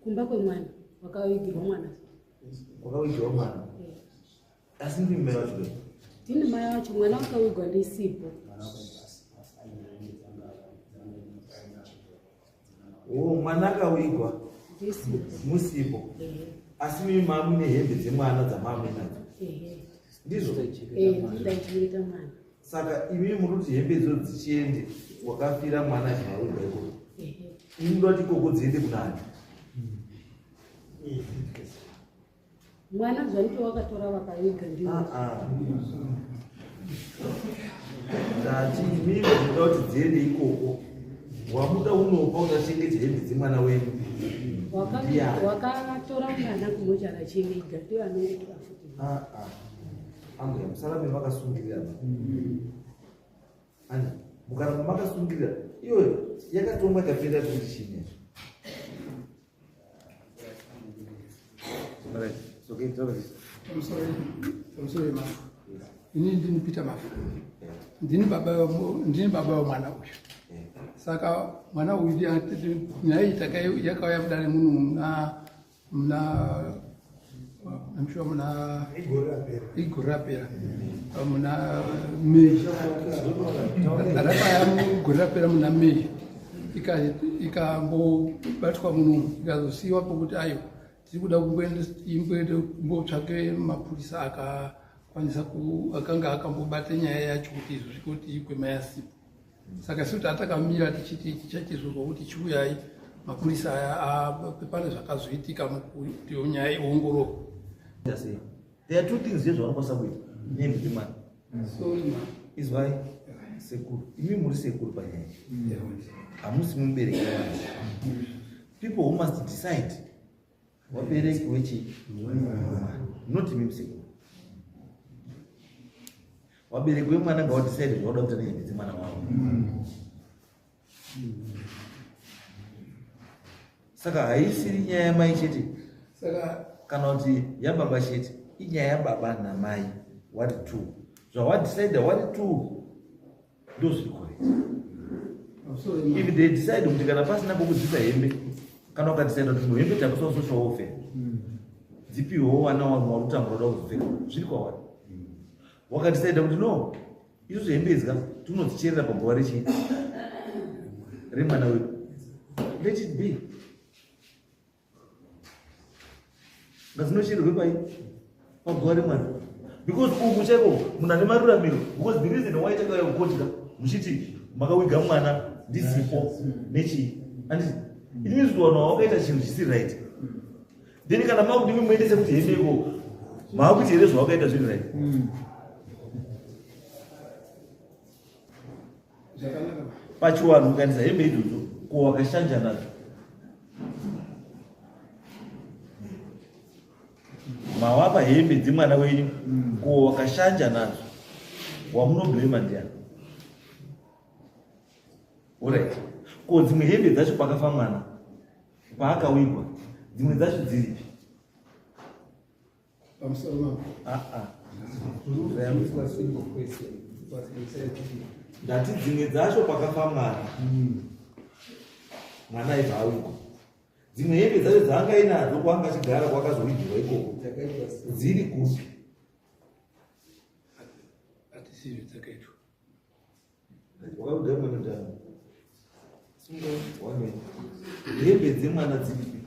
kumba kwemwana wakavigirwa mwana wakavigirwa mwana asi ndimi mai vacho ndini mai vacho mwana wakavigwa ndisipo o mwana akavigwa musipo asi mimi mamu nehembe dzemwana dzamamwe nadzo ndizvo ndaichengeta mwana saka imi muri kuti hembe idzo dzichiende wakafira mwana zvauda iko imi ndoda kuti ikoko dziende kunani mwana zvanike wakatora vakaviga ndi ah, ah. ndati imi ndoda kuti dziende ikoko wamuda unopa uchachengeta hembe dzemwana wenyu wakatora mwana kumochara chenge iga ndiyo anonge tiafuti ah, ambuya musarambe makasungirirana ani mukaramba makasungirira iyoyo yakatongwa ikapera kuti chine ini ndini peter mafu ndini baba vemwana uyu saka mwana uyu nyaya iyi takauya kudare muno muna mna I'm sure mna igore rapera mna May rapaya gore rapera mna May ikambobatwa munomu ikazosiyiwa pokuti ayo tiri kuda kumboende kumbotsvake mapurisa akakwanisa akanga akambobata nyaya yacho kuti izvo zvikuti ikwemayasipo saka isu tatakamira tichiti tichaitizvirwa kuti chiuyai mapurisa aya pane zvakazoitika mukuti nyaya iongororwa there are two things here zvavanokwanisa kuita nendwi mani izwai sekuru imi muri sekuru panyaya hamusi mubereki manje people who must decide wabereki wechi not imi msekuru wabereki wemwana ngawadecide zvauda kuita nehembe dzemwana wavo saka haisiri nyaya yamai chete saka kana kuti yababa chete inyaya yababa namai wari two zvawadecide wari two ndozviri correct if they decide kuti kana pasina pokudzisa hembe kana ukadecida kuti muhembe takusa usosha wofe hmm. dzipiwewo wana wanhu wari kutambura da kuzopfeka zviri kwawari hmm. wakadecida kuti no izvo zvehembe idzi ka tinodzicherera pabhowa rechii remwana wedu let it be ngazinochererwe pai paguva remwana because uku chaiko munhu ane maruramiro because the reason why takauya kukodya muchiti makawiga mwana ndisipo nechii anditi it means kuti wanhu wawakaita chinhu chisiri right then kana makuti imwe muendese kuti hende iko maakuti here zvawakaita zviri right mm. pachiwanhu ukanisa hembe idzodzo ko wakashanja nadzo mawapa hembe dzemwana wenyu ko wakashanja nadzo wamunoblema ndiani orit ko dzimwe hembe dzacho pakafa mwana paakawigwa dzimwe dzacho dziripi pamusoro mambo ah, ah. zvayambiswa simple question ndati dzimwe dzacho pakafa mwana hmm. mwana aibva awigwa dzimwe hembe dzacho dzaanga inadzo kwanga achigara kwakazoigirwa ikoko dziri kupi wakakugara mwana ndani sunga wame hembe dzemwana dziripi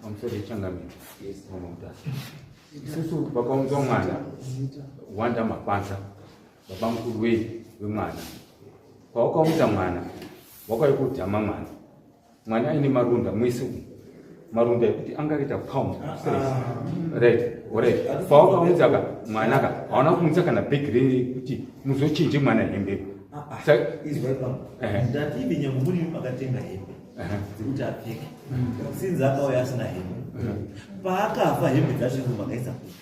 pamusoro yechangamire mama mutasa isusu vakaunzwa mwana wanda mapanza baba mukuru wei wemwana kwawakaunza mwana wakaikudhama mwana mwana aine maronda mwese umu maronda ekuti angaita pound right orit pawakaunza ka mwana ka hauna kuunza kana bhegi rekuti muzochinje mwana hembe paakafa hembe dzacho makaisa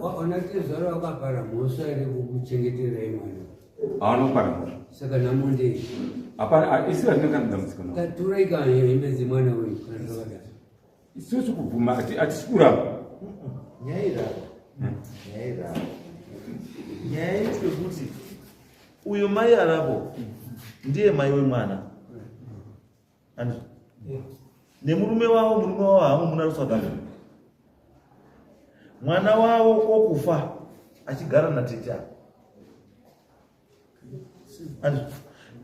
Wakaona tezvara wakapara mhosva here kukuchengeterai mwana? Haana kupara mhosva. Saka nhamo ndei? Hapana, isi hazvina kana dambudziko navo. Taturai kana hembe dzemwana wenyu kana zvakadaro. Isusu kubvuma hatisi kuramba. Nyaya irava. Hmm. Nyaya irava. Nyaya iri kuti uyo mai aravo ndiye mai wemwana. Andrew. Yeah. nemurume wavo murume wavo haamumuna kusouth africa mwana wavo okufa achigara natete ava Andrew.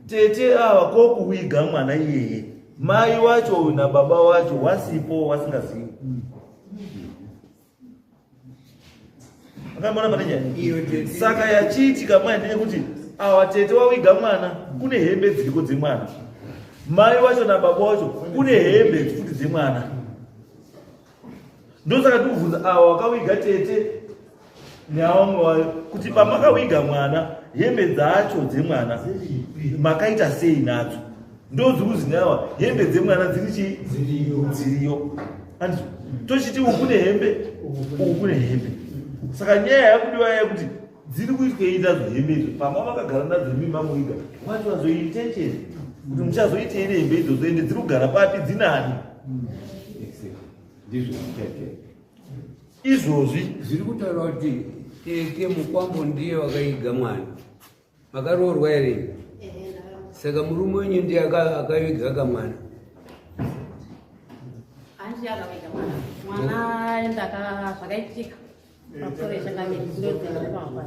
tete ava kokuwiga mwana iyeye mai wacho uyu nababa wacho wasipo wasingazivi akamona pane nyaya saka yachiitika mwana ndine kuti awa tete wawiga mwana kune hembe dziriko dzemwana mai wacho nababa wacho kune hembe futi dzemwana ndosaka ndikubvunza awa wakawiga tete neawamwe wayo kuti pamakawiga mwana hembe dzacho dzemwana makaita sei nadzo ndozi kuzinawa hembe dzemwana dziri chii dziriyo anzwa tochiti uku kune hembe uku kune hembe saka nyaya yakudiwa yaya kuti dziri kuitwei nadzo hembe idzo pamba vakagara nadzo hembe mamuiga wati vazoitencheni kuti muchazoitei nehembe idzodzo ende dziri kugara papi dzinani ndizvo zvichaitei izvozvi zviri kutaura kuti tete mukwambo ndiye wakaiga mwana Makaroorwa here? Saka murume wenyu ndiye akaviga kamwana. Hanzi akaviga mwana. Mwana ndaka zvakaitika. Pakutoresha kake ndozenda pamba.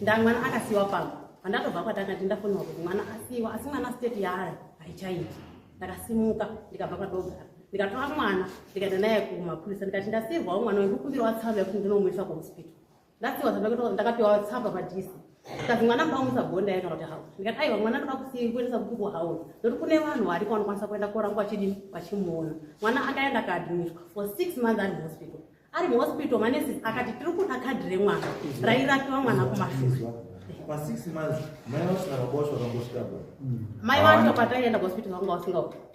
Ndamwana akasiwa pamba. Pandakabva kwatanga ndindafonwa kuti mwana asiwa asi mwana state yaari haichaiti. Ndakasimuka ndikabva kwadogara. Ndikatora mwana ndikaenda naye kumapurisa ndikati ndasirwawo mwana wekukumbira watsamba yekuti ndinomuisa kuhospital. That's what I'm talking about. Tsamba padisi. Kazi mwana mbamusa bonda yake kuti hawo. Ndikati aiwa mwana ndoda kusiya kuendesa kuku hawo. Ndokuti kune vanhu variko vanokwanisa kuenda korangwa chidi vachimuona. Mwana akaenda kaadmitwa for 6 months ari hospital. Ari hospital manesi akati tiri kuda kadhi remwana. Rairapiwa mwana kumashure. Pa 6 months mai vacho vakaboshwa vakangosvika. Mai vacho pataienda hospital vanga vasinga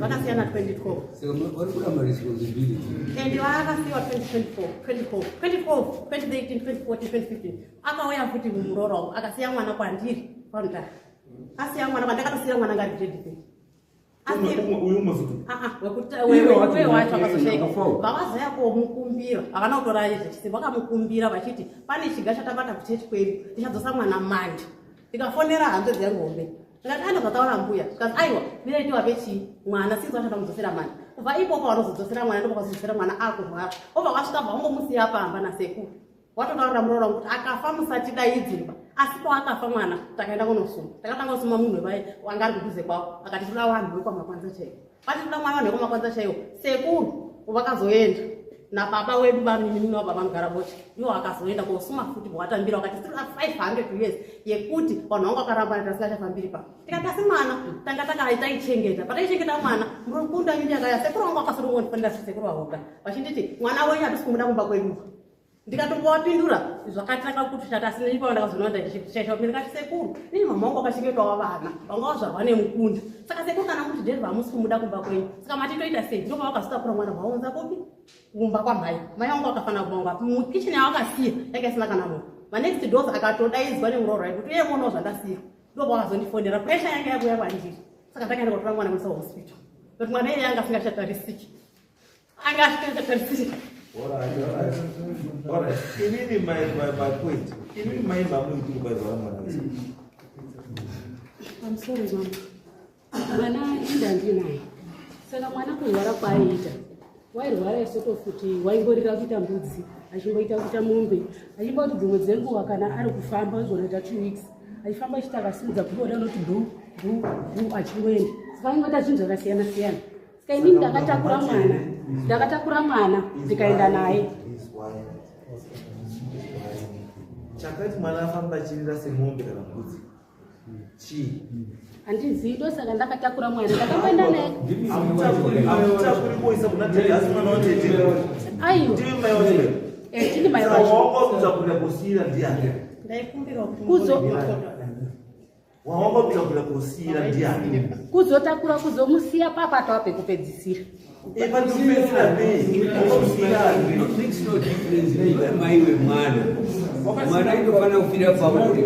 vakasiyana 2012 vaakasiwa 2024 akauya futi muroora akasiya mwana kwandiri kwamta asiya mwana kwandakatosiya mwana ngari gredii vavazoya komukumbira havana kutora zvechisimba vakamukumbira vachiti pane chiga chatabata kuchechi kwedu tichadzosa mwana manje ndikafonera hanzvadzi yangu hombe ndikati aenda kwataona mbuya zvikanzi aiwa ndinaitiwa vechii mwana sinzi vachada mudzosera mwana kubva ipoko vanozodzosera mwana ndokwakazosera mwana akurwara obva kwasvika bva wangomusiya pamba nasekuru watotaurira muroora kuti akafa musatidaidzimba asi paakafa mwana takaenda kunosuma takatanga kusuma munhu vaye wanga ari kudhuze kwavo akati toda vanhu vekwamakwanisa chaivo Pati kuda mwana wanhu yekumakwanza chaiwo sekuru vakazoenda nababa wedu vaminimini wabva vanogara bocha iwo akazoenda kosuma futi bwatambira wakati siri 500 years yekuti vanhu vangu vakarambana tasingachafambiri pa tikati asi mwana tanga takataichengeta pataichengeta mwana murukunda nyunyakaya sekuru vangu vakasotongondifanira sekuru vahoga vachinditi mwana wenyu hatisi kumuda kumba kwedu ndikatombovapindura zvakatanga kutushata asi neipapo ndakazoona ndaishaisha vamene kati sekuru nei mama wangu akachengetawo vana vanga vazvarwa nemukunda saka sekuru kana kuti deri vamusi kumuda kumba kwenyu saka mati toita sei ndoko vakazotapura mwana vaunza kopi kumba kwamhai mai vangu vakafanira kuvanga mukichen yavakasiya yake isina kana munhu manext dos akatodaidzwa nemuroora yekuti uye muonawo zvandasiya ndoko vakazondifonera presha yange yakuya kwandiri saka ndakaenda kotora mwana musa hospital nokuti mwana iye yanga asingachatarisiki I got to the All right, all right. All right. Inini my, my, my point. Inini my mamu ikuti kwa zwa mwana wese. I'm sorry mama. Mwana inda ndinaye. Saka mwana kurwara kwaaiita. Wairwara isoto futi waingorira kuita mbudzi, achimboita kuita mombe, achimboti dzimwe dzenguva kana ari kufamba zvonoita two weeks. Achifamba achita akasimudza kuboda anoti bhu bhu bhu achingoenda. Saka aingota chinhu zvakasiyana siyana. Ska ini ndakatakura mwana ndakatakura mwana ndikaenda naye chakati mwana afamba achirira semombe kana mbudzi chii handizivi ndosaka ndakatakura mwana ndakamboenda naye aiwa tini mai wacho kuzo wawangotakura kusiira ndiani kuzotakura kuzomusiya papa tava pekupedzisira maiwe mwana mwana inofanira kufira pauri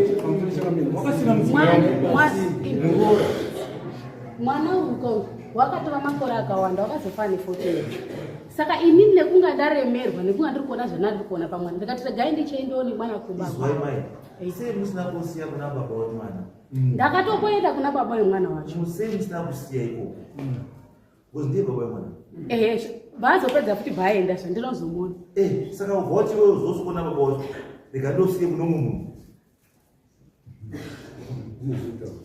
mwana uko wakatova makore akawanda wakazofa ne 14 saka inini nekunga ndaremerwa nekunga ndiri kuona zvanandiri kuona pamwana ndikati regai ndichiendewo nemwana kumba Musei musina kusiya kuna baba wemwana. Mm. Ndakatokoenda kuna baba wemwana wacho. Musei musina kusiya ikoko. Mm. Because ndiye baba wemwana. Mm. Eh, vazopedza futi vaenda zve ndinozomuona. Eh, saka voti wewe uzosukona baba wacho. Ndikandosiye kuno munhu.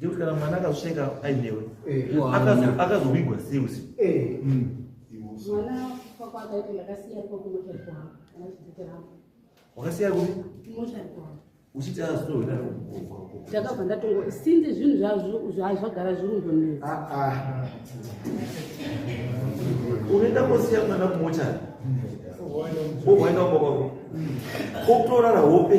Nekuti kana mwana akazvisheka ainewe akazovigwa siusi wakasiya kupi uchiti azoda ndakabva ndatongo since zvinhu zvazvagara zvirundonetsa ah, ah. unoenda kosiya mwana kumochari owaenda umba kwako kokutorara hope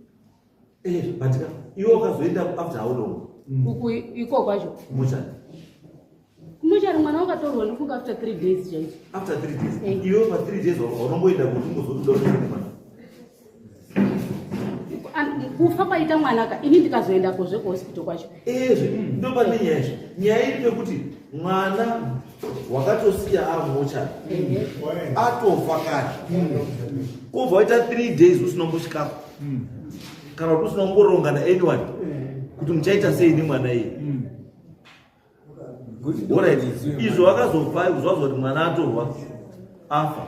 Eh, but iwe ukazoenda after how long mm. uku iko kwacho kumuchari kumuchari mwana wakatorwa nofunga after three days chaicho after three days eh. iwe pa three days unomboenda kuti ungozotodaoaa kufa kwaita mwanaka ini ndikazoendako zvekuhospital kwacho ezve eh, ndopandinyaya izvo nyaya iri pekuti mwana wakatosiya ari mochari atofa kare kobva waita three days usina kumbosvikako kana kuti usina kumboronga naanyone kuti muchaita sei nemwana iye orit izvo wakazobva zvazoti mwana atorwa afa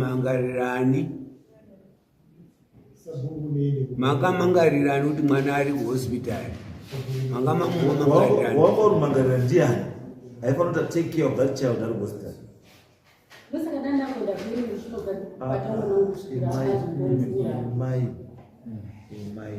mangarirani makamangarirani kuti mwana ari kuhospital makamamumamangariranwakorumangarira ndiani aifanota take care of that child ari kuhospital mai mai mai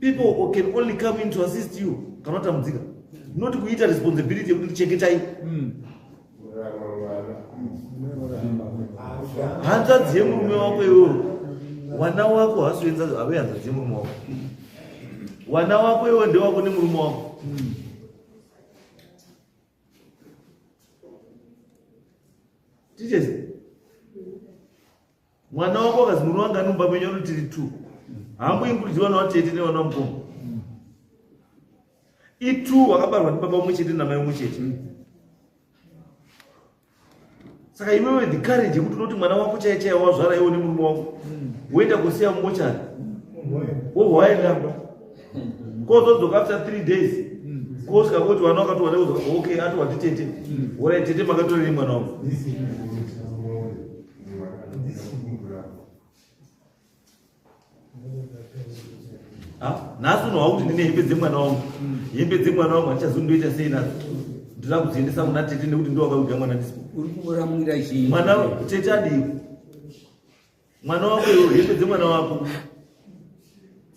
people can only come in to assist you kana watambudzika not kuita responsibility yekuti chengetai mm. hanzvadzi yemurume wako iwewe wana wako hasuenza ave hanzvadzi yemurume wako wana wako iwe ndewako nemurume wako mm. tichese mwana wako akazi murume wanga numba menyu ano tiri two hambo inkuriji vana vatete nevana mukoma itu wakabarwa ndibaba umwe chete namai umwe chete saka iwewe the courage yekuti unoti mwana wako chaiye chaiye wazvara iwo nemurume wako woenda kusiya mumochari wobva waenda kozodzoka after three days kosvika koti vana wakatowana ok ati watitete worai tete makatorerei mwana wangu nhasi unohwa kuti ndine hembe dzemwana wangu hembe dzemwana wangu handichazondoita sei nadzo ndinoda kudziendesa kuna tete nekuti ndovakaudya mwana ndisipo uri kuramwira chii mwana tete adii mwana wako iwe hembe dzemwana wako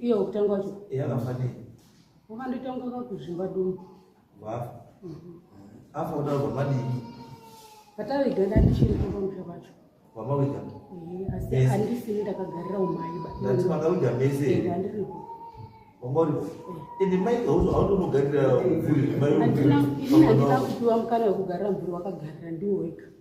iyo kutanga wacho yakafa nei wakandoita kunge kakuzvimba dumu vafa mhm. afa kutaura kwamadini pataviga ndandichiri kumba musha kwacho kwamawiga asi andisini ndakagarira umaiba ndati makawiga mese andiripo wamori ende mai hautonogarira mvuri mai andina kupiwa mukana wekugarira mvuri wakagarira ndiwo wega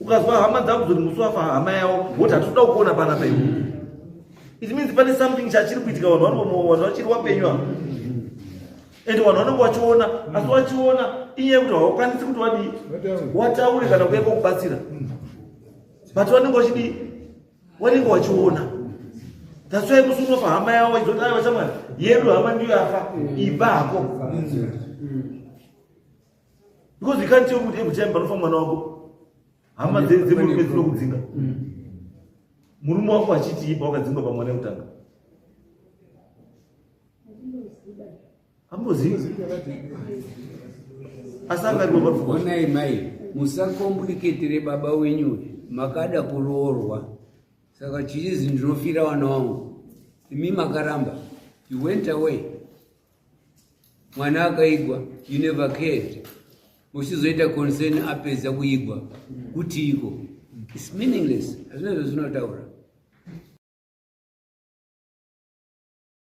ukazwa hama dzako dzoti musi wafa hama yavo woti hatitoda kuona pana paivo it means pane something chachiri kuitika vanhu vanobomoa vanhu vachiri wapenyu ava and vanhu vanenge vachiona asi vachiona inyaya yekuti havakwanisi kuti vadii wataure kana kuya kwakubatsira but vanenge vachidii vanenge vachiona tasvai musi unofa hama yavo vachizoti ai vachamwana yedu hama ndiyo yafa iba hako because you can't tell kuti every time panofa mwana wako hama dzemurume dzinokudzinga mm. murume wako achitii pawakadzingwa pamwana yekutanga ambozivi asi angaonai mai musakombuliketere baba wenyu makada kuroorwa saka chichizi ndinofira wana wangu imi makaramba you went away mwana akaigwa you never cared uchizoita concern apedza kuigwa kuti iko its meaningless hazvina zvazvinotaura